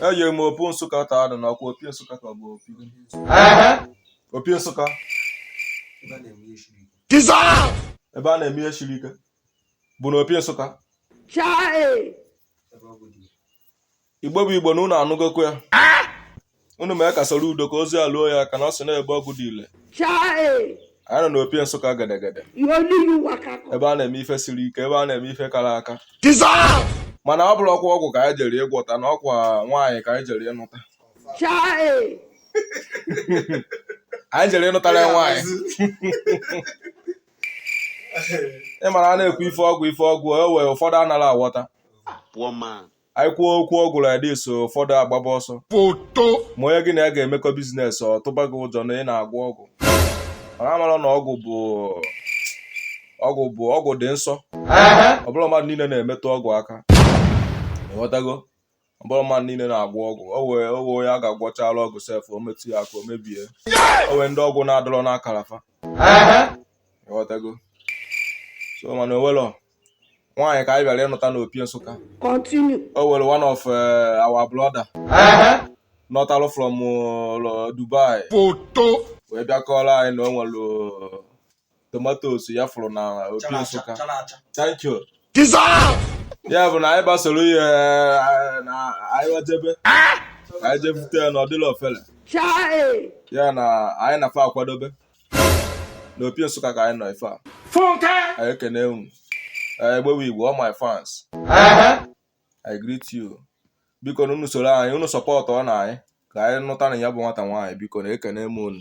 eje m opi nsụka taa nụ n'ọkwa opi nsụka ka ọ bụ opi opi nsụka ebe a na-eme ihe siri ike bụ na opi nsụka igbo bụ igbo na unu anụgokwa ya unu mee ka soro udo ka ozi a luo ya aka na ọ sị na ebe ọgwụ dị ile Chai! anyị nọ n'opi nsụka gedegede You only you waka come. ebe a na-eme ife siri ike ebe a na-eme ife kara aka mana ọ bụrọkwa ọgwụ ka anyị jere ịgwọta na ọkwa nwaanyị ka anyị jere ịnụta Chai! anyị jere ịnụtara nwaanyị ị mara a na-ekwu ife ọgwụ ife ọgwụ o wee ụfọdụ anara aghọta Poor man. anyị kwuo okwu ọgwụ like this ụfọdụ agbaba ọsọ foto ma onye gị na ya ga-emekọ biznes ọ tụba gị ụjọ na ị na-agwọ ọgwụ mana amarọ na ọgwụ bụ ọgwụ bụ ọgwụ dị nsọ ọ bụrọ mmadụ niile na-emetụ ọgwụ aka ịghọtago ọ bụrọ mmadụ niile na-agwọ ọgwụ o wee o wee onye a ga-agwọchala ọgwụ sef o metụ ya aka o mebie o wee ndị ọgwụ na-adịrọ n'akara fa ịghọtago so mana onwelọ nwaanyị ka anyị bịara ịnụta n'opi nsụka Continue. o were one of eh, our brother nọtalụ from eh, dubai Foto. wee bịa kọọrọ anyị na o nwere eh, tomatoes ya fụrụ na opi nsụka thank you Dissolve. ya bụ na anyị gbasoro ya eh, na anyị wee jebe anyị je bute ya na ọ dịlọ ofele Chai. ya na anyị na fa akwadobe na opi nsụka ka anyị nọ ife a funke anyị ekene unu anyị egbewe igbo all my fans I greet you biko na unu soro anyị unu sọpọtụọ na anyị ka anyị nụta na ya bụ nwata nwaanyị biko na ekene m unu